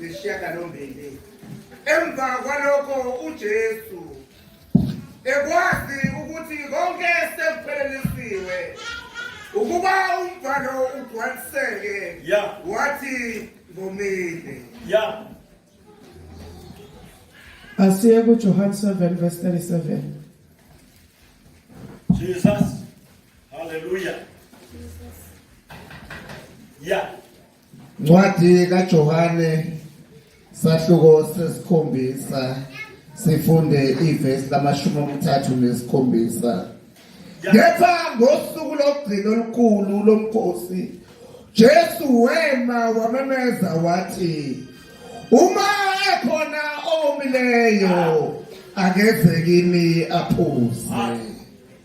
nesishiyagalombili emva kwalokho ujesu ekwazi ukuthi konke sekuphelelisiwe ukuba umvalo ugcwaliseke wathi ngomile asiye kujohane 7 verse 37 jesus haleluya ya Ncwadi kaJohane sahluko sesikhombisa sifunde ivesi lamashumi amathathu nesikhombisa kepha ngosuku lokugcina olukhulu lomkhosi Jesu wema wamemeza wathi uma ekhona owomileyo akeze kimi aphuze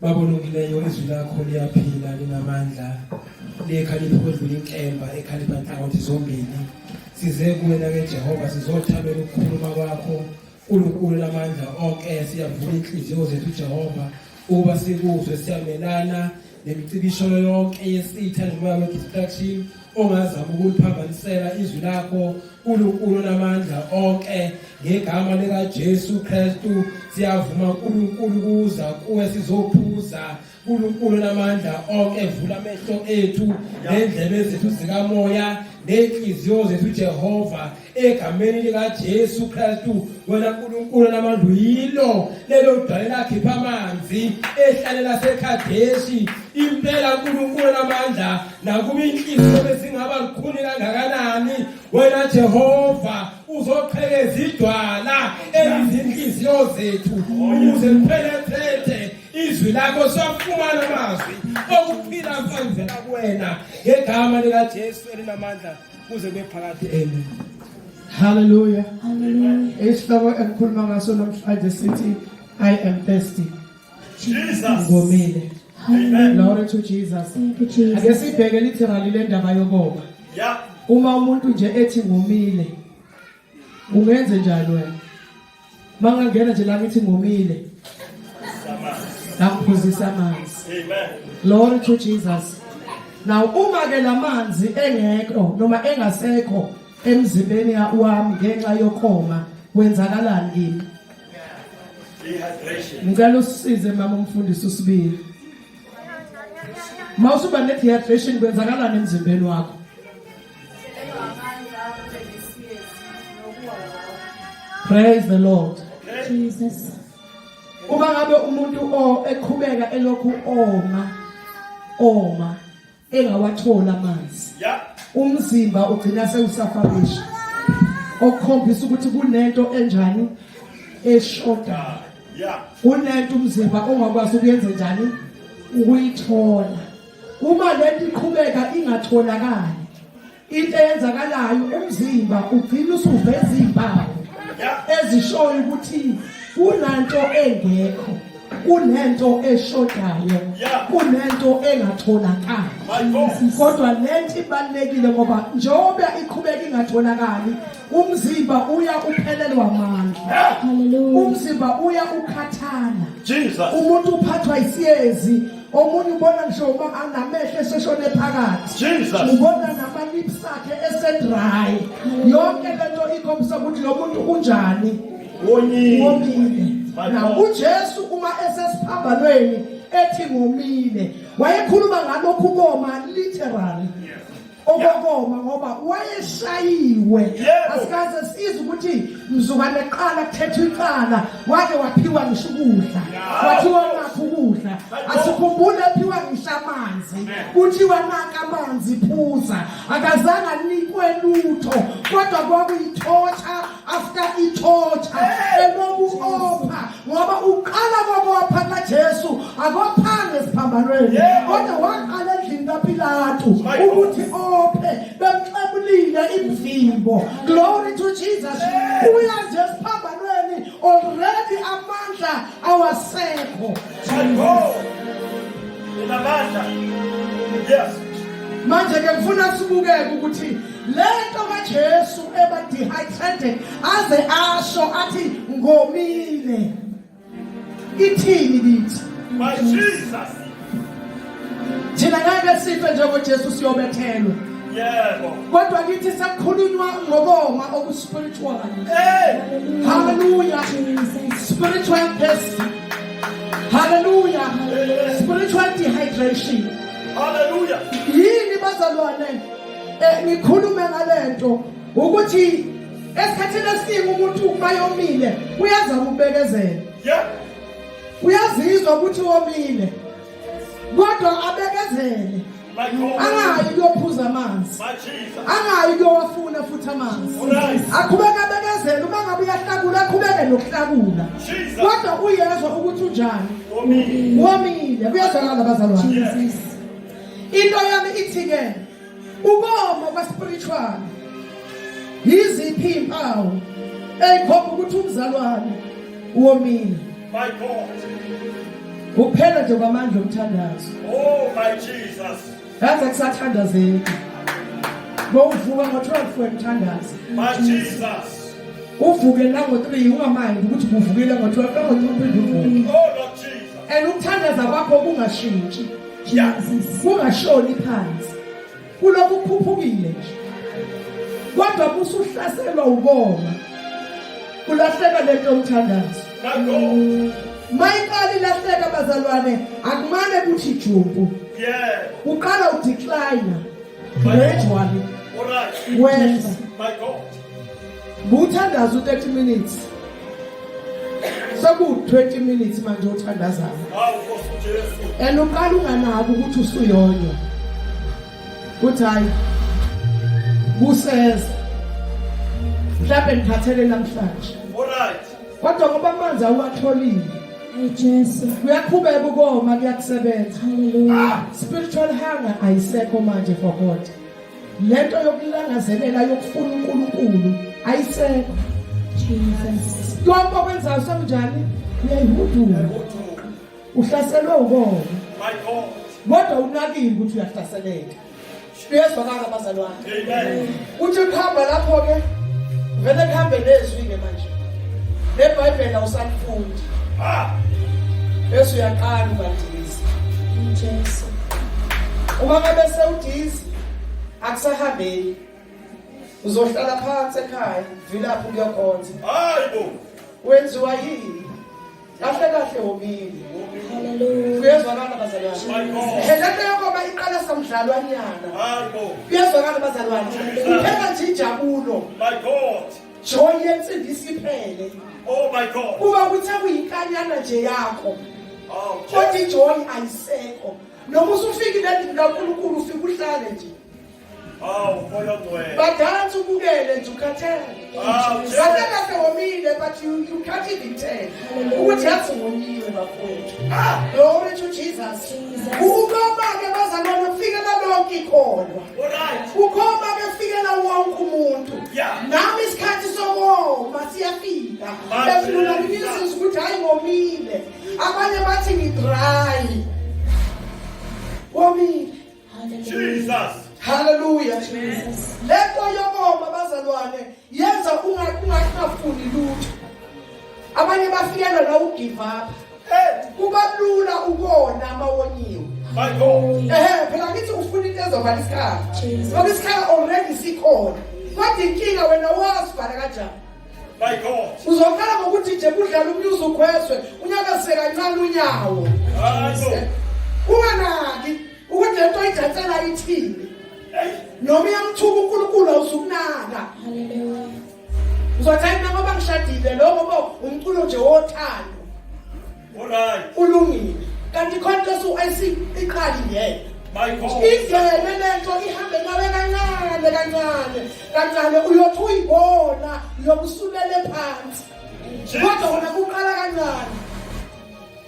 Baba olungileyo izwi lakho liyaphila linamandla likhalipha ukwedlula inkemba ekhalipha nhlangothi zombili size kuwena ke Jehova sizothabela ukukhuluma kwakho uNkulunkulu lamandla onke siyavula inhliziyo zethu Jehova uba sikuzwe siyamelana nemicibisholo yonke yesitha nomoya we-distraction ongazama ukuliphambanisela izwi lakho uNkulunkulu namandla onke ngegama lika Jesu Kristu siyavuma uNkulunkulu kuza kuwe sizophuza uNkulunkulu namandla onke vula amehlo ethu nendlebe zethu zikamoya nenhliziyo zethu Jehova egameni likaJesu Kristu wena Nkulunkulu namandlu yilo lelo dwale lakhipha amanzi ehlale laseKhadeshi impela Nkulunkulu namandla nakuba inhliziyo bezingaba lukhuni kangakanani wena Jehova uzoqhekeza idwala elizinhliziyo zethu ukuze liphelethethe izwi lakho safumana amazwi okuphila kwenzela kuwena ngegama likaJesu elinamandla kuze kube phakade amen haleluya isihloko engikhuluma ngaso namhlanje sithi i am thirsty ngomile glory to jesus ake sibheke literally le ndaba yokoba uma umuntu nje ethi ngomile Ungenze njani wena? Mangangena nje la ngithi ngomile. Nakuphuzisa amanzi. Amen. Glory to Jesus. Now uma ke lamanzi engekho noma engasekho emzimbeni wami ngenxa yokoma kwenzakalani kimi? Ngicela usize mama umfundisi usibili. Mawusuba ne dehydration kwenzakalani emzimbeni wakho? Praise the Lord. Jesus. Uma ngabe umuntu o eqhubeka elokhu oma oma engawatholi amanzi. Yeah. Umzimba ugcina sewusafabisha. Okukhombisa ukuthi kunento enjani eshoda. Yeah. Kunento umzimba ongakwazi ukuyenza njani ukuyithola. Uma lento iqhubeka ingatholakali into eyenzakalayo umzimba ugcina usuveza izimpawu ezishoyo ukuthi kunanto engekho kunento eshodayo kunento engatholakali kodwa lento ibalekile ngoba njengoba iqhubeka ingatholakali umzimba uya uphelelwa amandla umzimba uya ukhathala umuntu uphathwa isiyezi omunye ubona ngisho uma anamehlo eseshone phakathi Jesus. ubona namalips akhe esedry yonke lento ikhombisa ukuthi lo muntu unjani Wonyile. womile My na God. ujesu uma esesiphambanweni ethi ngomile wayekhuluma ngalokhu koma literally okokoma ngoba wayeshayiwe Yebo. asikaze size ukuthi mzukwane qala kuthetha icala wake waphiwa ngisho ukudla wathiwa nakho ukudla asikhumbule aphiwa ngisho amanzi kuthiwa naka amanzi phuza akazange anikwe lutho kodwa kwakuyithotha after ithotha eloku opha ngoba uqala kokopha kaJesu akophanga esiphambanweni kodwa waqala endlini kaPilatu ukuthi ophe bemxebulile imvimbo glory to Jesus uya nje esiphambanweni already amandla awasekho Yes. Manje ke ngifuna sibukeke ukuthi lento kaJesu eba dehydrated aze asho athi ngomile ithini kithi my Jesus thina ngeke sife njengoJesu siyobethelwa yebo kodwa kithi sekukhulunywa ngokoma okuspiritual hey hallelujah spiritual thirst hallelujah spiritual dehydration hallelujah yini bazalwane Eh, ngikhulume ngalento ukuthi esikhathini esiningi umuntu uma yomile uyaza ukubekezela uyazizwa ukuthi womile kodwa abekezele angayi kuyophuza amanzi angayi kuyowafuna futhi amanzi akhubeke abekezele uma ngabe uyahlakula akhubeke nokuhlakula kodwa uyezwa ukuthi unjani womile kuyezwakala bazalwane into yami ithi-ke ukoma kwaspiritual yiziphi iy'mpawu eyikhomba ukuthi umzalwane womile my god kuphela nje kwamandla omthandazo oh my jesus ngaze kusathandazeki bowuvuka ngo-12 wemthandazo my jesus uvuke nango-3 ungamandi ukuthi kuvukile ngo-12 nango-3 uvuke oh lord jesus and ukuthandaza kwakho kungashintshi ungashoni phansi kulokhu ukhuphukile nje kodwa musa uhlaselwa ukoma kulahleka lento omthandazo mayiqala ilahleka bazalwane akumane kuthi jumpu uqala udecline gradually wena Nguthandaza u30 minutes. Seku 20 minutes manje uthandazayo. Hawu Nkosi Jesu. And uqala unganaki ukuthi usuyonyo. Kuthi hayi. Kuseza. Mhlawumbe ngiphathele namhlanje. Alright. Kodwa ngoba amanzi awatholile. Hey Jesu. Kuyakhubeka ukoma kuyakusebenza. Hallelujah. Spiritual hunger ayisekho manje for God. lento yokulangazelela yokufuna uNkulunkulu ayisekho Jesus konke okwenzayo sekunjani uyayihudula uhlaselwe ukona my god kodwa unakile ukuthi uyahlaseleka uyezwa kaka bazalwane amen uthi kuhamba lapho ke vele kuhambe nezwi ke manje nebhayibhela usalifundi ah bese uyaqala ubalisa uJesu uma ngabe sewudisa akusahambeki uzohlala phansi ekhaya vilapho kuyokhonza hayi bo wenziwa yini kahle kahle womile kuyezwakala bazalwane helento yokoba iqala samdlalwanyana kuyezwakala bazalwane kuphela nje injabulo joy yensimbi isiphele oh kuba kuthe kuyinkanyana nje yakho oh, kodwa ijoy ayisekho noma usufika endlini kaNkulunkulu ufike uhlale nje badansi ubukele nje ukhathele kahle kahle womile but you, you can't even tell ukuthi yathi womile bafowethu glory to jesus ukoma-ke bazalwane kufikela lonke ikholwa ukoma-ke kufikela wonke umuntu nami isikhathi sokoma siyafika efunula nginiziza ukuthi hhayi ngomile abanye bathi ngidry womile Jesus haleluya Jesus lento yokoma bazalwane yenza ungakungafuni lutho abanye bafikela la ugive up kuba lula ukona amawoniwe my god ehe phela ngithi ufuna into ezovala isikhala ngoba isikhala already sikhona kodwa inkinga wena wazi bhala kanjani My God. Uzokhala ngokuthi nje kudlala umnyuzi ukhwezwe unyakase kancane unyawo. Unganaki ukuthi lento ijatsela ithini. Noma iyamthuka uNkulunkulu awuzukunaka. Hallelujah. Uzothi mina ngoba ngishadile lokho umculo nje wothando. Alright. Ulungile. Kanti contest uIC iqali ngeke. Ingene lento ihambe nawe kancane kancane kancane uyothi uyibona yokusulele phansi. Kodwa wona kuqala kancane.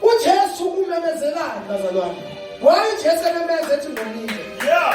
UJesu umemezelani bazalwane? Why uJesu ememeza ethi ngomile? Yeah.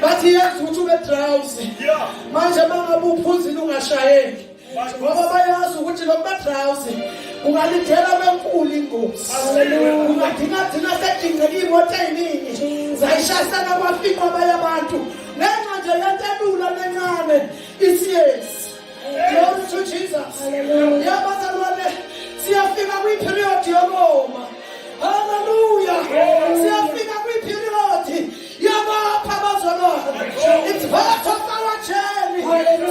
bathi yazi ukuthi ube drowsy manje mangabe uphuzile ungashayeki ngoba bayazi ukuthi lo badrawusi ungalindela benkulu ingozi ungadinga thina sedingeka iy'moto ey'ningi zayishasela kwafiqwa abanye abantu ngenxa nje yento elula nencane isiyezi Glory to Jesus. Hallelujah. Bazalwane siyafika kwi period yokoma. Hallelujah. Siyafika kwi period yabapha bazalwane. It's part of our journey. Hallelujah.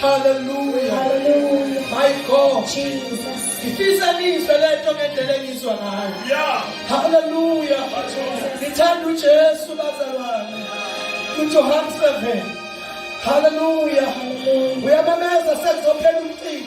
Hallelujah. Hallelujah. My God. Jesus. ngifisa nizwe lento ngendlela engizwa ngayo yeah. haleluya ngithanda ujesu bazalwane ujohane 7 haleluya uyamameza sekuzophela umcimbi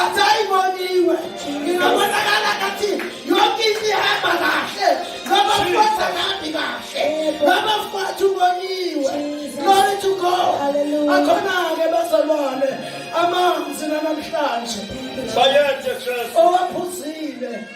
atayiboniwe ingabonakala kathi yonke into ihamba kahle noma futhi akahambi kahle noma futhi uboniwe glory to god akhona-ke bazalwane amanzi nanamhlanje owaphuzile